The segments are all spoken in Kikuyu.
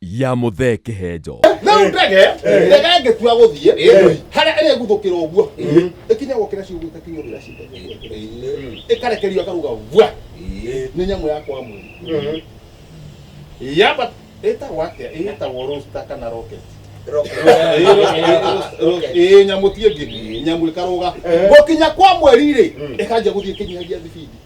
ya muthee kihenjo rä u ndege ndege ĩngĩtua gũthiĩ harĩa ĩrĩguthũkĩra ũguo ĩkinya gũkĩra ciugo ĩtakinywo rĩra ĩkarekerio akaruga vua nĩ nyamũ ya kwa mwĩrĩ yamba ĩtagwo atĩa ĩtagwo rosta kana rocket ĩ nyamũ tiĩ ngĩ nyamũ ĩkarũga gũkinya kwa mweri rĩ ĩkanjia gũthiĩ ĩkĩnyihagia thibindi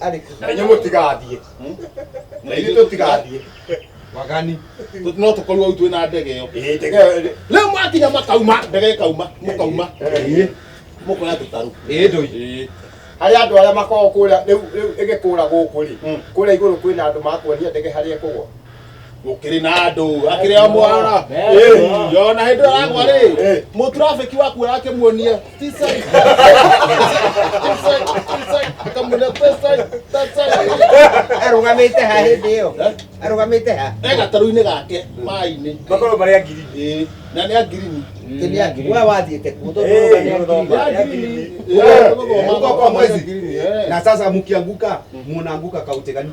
ariko na inyuĩ mũtigathiĩ na ithuĩ tũtigathiĩ wagani Tũ- no tũkorwo hau twĩ na ndege ĩyo Ĩĩ, ndege ĩyo ĩrĩ- rĩu mwakinya makauma ndege ĩkauma mũkauma Ĩĩ. mũkoya tũtarũ Ĩĩ, ndũi. Ĩĩ. harĩ andũ arĩa makoragwo kũrĩa rĩu rĩu ĩgĩkũra gũkũ rĩ Mm. kũrĩa igũrũ kwĩna andũ makuonia ndege harĩa ĩkũgwa gukiri na andu akiri o mwana yona hindu aragwa ri mu traffic wa kuoya akimuonia this side this side this side akamwona this side that side arugamite ha hindi iyo arugamite ha e gataru-inĩ gake maĩ-inĩ makorwo marĩa ngiri Ĩĩ, na nĩ angirini kinia we wathiite kuo na sasa mkianguka munaanguka kaute gani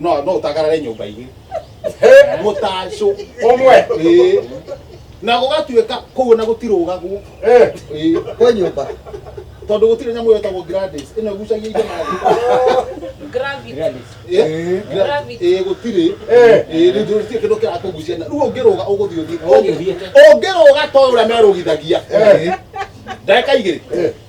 no no utagarare nyumba ingi mutaco umwe Ĩĩ. na gũgatuĩka kũu na gũtirũgagwo Eh, Ĩĩ. kwa nyumba tondũ gũtirĩ nyamũ yetagwo Gladys ĩno ĩgucagia indo na thĩ Gravity. Ĩĩ. Gravity. Ĩĩ, gũtirĩ Eh. Ĩĩ, rĩu ndũrĩ kĩndũ kĩrakũgucia na rĩu ũngĩrũga ũgũthiĩ ũthiĩ ũngĩrũga to ũrĩa merũgithagia Eh. ndagĩka igĩrĩ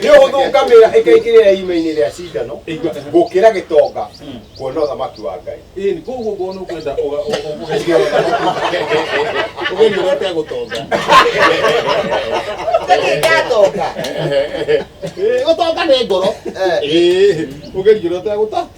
nĩ ũhũthũ ngamĩra ĩkaingĩrĩra irima-inĩ rĩa cindano gũkĩra gĩtonga kuona ũthamaki wa ngai ĩni koguo ngona ũkwenda ũgeria ũrĩa ũtegũtonga ndatonga gũtonga nĩ ngoro ũgeria ũrĩa ũtegũta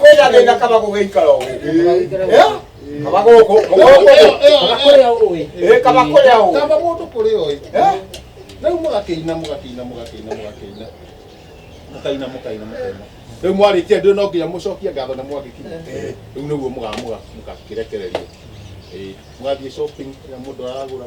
kwĩna thĩna kaba gũgĩikara ũguo kaba gũkũ kaba kũrĩa ũguo kaba mũndũ kũrĩa ũyũ rĩu mũgakĩina mũgakĩina mũgakĩina mũgakĩina mũkaina mũkaina mũkaina rĩu mwarĩkia ndĩ no nginya mũcokie ngatho na mwagĩkinya rĩu nĩguo mũgamuga mũgakĩrekereria mũgathiĩ shopping na mũndũ aragũra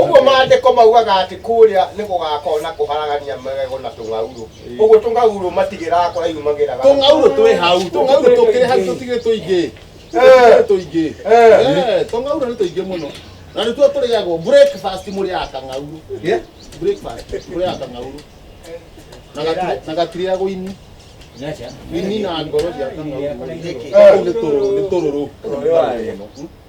ũguo maandĩko maugaga atĩ kũrĩa nĩ gũgakorwo na kũharagania magego na tũng'aurũ ũguo tũng'aurũ matigĩraga kũraihu magĩraga tũng'aurũ twĩ hau tũng'aurũ tũkĩrĩ hau tũtigĩ tũingĩ tũkĩrĩ tũingĩ Eh, tũng'aurũ nĩ tũingĩ mũno na nĩtuo tũrĩagwo breakfast mũrĩaga kang'aurũ breakfast mũrĩaga kang'aurũ Na gati- na gatirĩagwo ini ini na ngoro cia kang'aurũ Kau nĩ tũrũ- nĩ tũrũrũ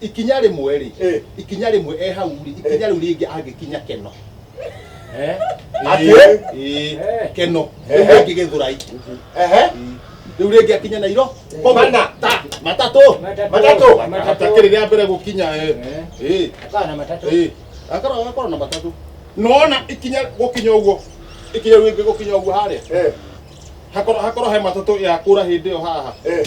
ikinya rĩmwe rĩ Eh. ikinya rĩmwe e hau rĩ ikinya rĩu rĩngĩ angĩkinya keno Eh? Atĩ? Eh, eh, keno rĩu Eh. rĩngĩ gĩthũrai Ehe. rĩu rĩngĩ akinya nairo Mana. Ta- matatũ Matatũ. matakĩrĩ rĩa mbere gũkinya eh. Eh. Akawa na matatũ. Eh, akorwo akorwo na matatũ nona ikinya gũkinya ũguo ikinya rĩu rĩngĩ gũkinya ũguo harĩa Eh. hakorwo hakorwo he matatũ yakũra hĩndĩ ĩyo haha Eh.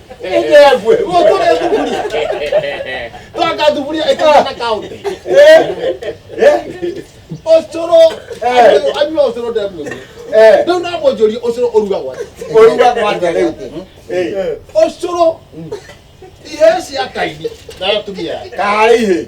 Ijegwe, motore thuburia. Twaka thuburia ĩtana kaunti. Ũcũrũ, anyua ũcũrũ ndemwe. Rĩu na mwonjoria ũcũrũ ũrugagwo atĩa? Ũrugagwo atĩa rĩu? Ũcũrũ, ihĩĩ cia kaini na atumia. Kaĩ ihĩĩ.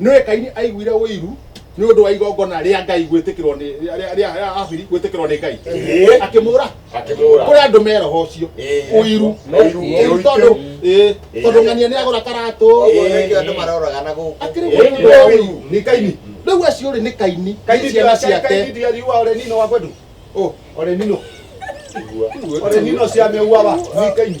nĩwe kaini aiguire ũiru nĩ ũndũ wa igongona rĩa ngai gwĩtĩkĩrwo nĩ rĩa- rĩa rĩa abiri gwĩtĩkĩrwo nĩ ngai Ĩĩ. akĩmũra Akĩmũũra. kũrĩ andũ meroho ũcio Ĩĩ. ũiru Ũiru. Ũiru tondũ ĩĩ, Ĩĩ. tondũ ng'ania nĩ agũra karatũ Ũguo Ĩĩ. nĩkĩo andũ maroraga na gũkũ. akĩrĩ Ĩĩ. mũndũ wa ũiru nĩ kaini rĩu acio rĩ nĩ kaini nĩ ciana ciake Ũ, Ore nino cia meua wa. Nĩ kaini.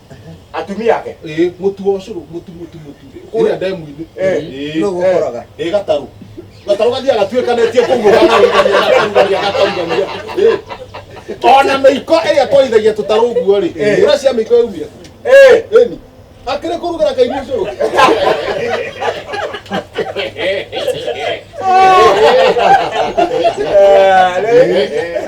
atumia ake ĩĩ mũtu wa ũcũrũ mũtu mũtu mũtu kũrĩa ndemu-inĩ Eh. Ĩĩ. Nũũ ũkoraga? Eh, ĩĩ gatarũ gatarũ gathiaga gatuĩkanĩtie kũu gakarugania gakarugania gakarugania Ĩĩ. ona mĩiko ĩrĩa twaithagia tũtarũ ũguo rĩ Eh. ũrĩa cia mĩiko yaumia Eh, ĩni akĩrĩ kũrugĩra kaini ũcũrũ eh, rĩ-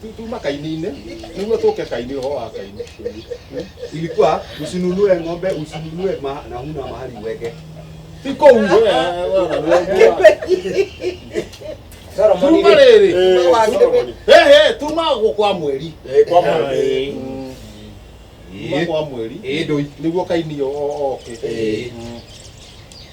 Tu- tuma kaini-inĩ nĩguo tũke kaini ũhoro wa kaini ilikuwa usinunue ng'ombe usinunue ma, na huna mahali uweke ti kũu we- we- we- tuma rĩrĩ He, he, tuma gũ- kwa mweri Eh, kwa mweri. Mm. Tuma kwa mweri ĩĩ ndũi nĩguo kaini o- o- oke Eh. Mm.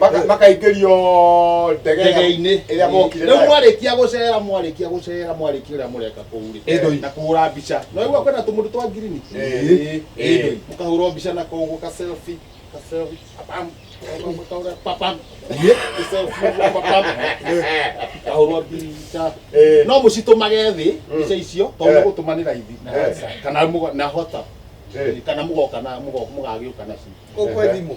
Maka- makaingĩrio ndege ĩrĩa- ndege-inĩ ĩrĩa mokire rĩu nayo. mwarĩkia gũcera mwarĩkia gũcera mwarĩkia ũrĩa mũreka kũu rĩ Ĩndũi. na kũhũra mbica no igua kwenda tũmũndũ twa ngirini Ĩĩ. Ĩndũi. mũkahũrwo mbica na kũu ka selfie ka selfie papam mũkahũra papam Ĩĩ. Ka selfie ũguo, papam kahũrwo mbica Ĩĩ. no mũcitũmage thĩ mbica icio tondũ Eh. nĩ gũtũma nĩ raithi na Eh. WhatsApp, kana mũgo- na WhatsApp. Eh. kana mũgoka na mũgo- mũgagĩũka nacio Kũkwe thimũ.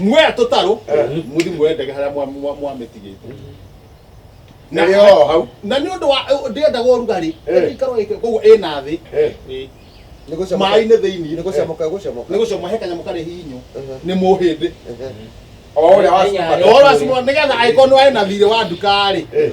muoya tũtarũ mũthi muoya ndege harĩa mwa- mwa- mwamĩtigĩte Na- Nĩrĩ o hau. na nĩ ũndũ wa ndĩendaga ũrugarĩ Eh. ikaro ĩke koguo ĩna thĩ Eh. Ĩ. Nĩ gũcamũka- maĩ-inĩ thĩinĩ nĩ gũcamũka gũcamũka. nĩ gũcoma he kanyamũ karĩ hihinyũ Mhm. nĩ mũhĩndĩ Ehe. O ũrĩa wacuma. ũhoro wa cuma nĩgetha angĩkorwo nĩ warĩ na thirĩ wa nduka-rĩ Eh.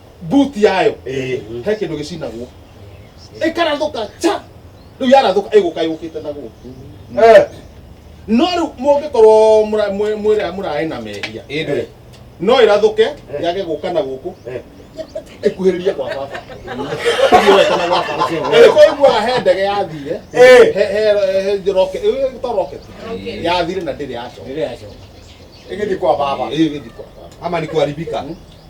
buti yayo Eh. he kindu gicinagwo ikarathuka cha riu yarathuka iguka yukite na guku Eh. no riu mungikorwo mwira murae na mehia Ĩndĩ. no irathuke yage guka na guku Eh. ikuhiririe kwa baba Ithiĩ wete na gwa baba ĩkoigua he ndege yathire Eh. he- he- he njoroke ĩ, to rocket Rocket. yathire na ndĩrĩ yacoka Ĩgĩthiĩ kwa baba. ĩgĩthiĩ kwa baba Ama ni kuharibika.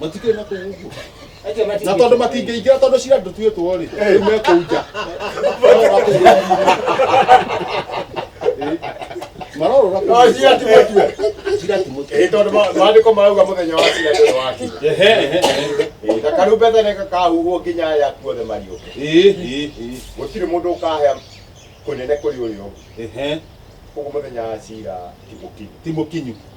matikĩrĩ na kũu ũguo Acio na matingĩ- tondå matingä ingä ra tondå cira ndå tuä two rä rä mekå nja marorå ra No, cira ti mũtue. cira ti må Ĩĩ, tondũ ma- maandĩko marauga mũthenya wa cira ndũrĩ waki Ĩĩ, na karumbeta nĩ gakahuhwo nginya aya kuothe mariũke gũtirĩ mũndũ ũkahea kũnene kũrĩ ũrĩa ũngĩ koguo mũthenya wa cira ti mũkinyu timå kinyu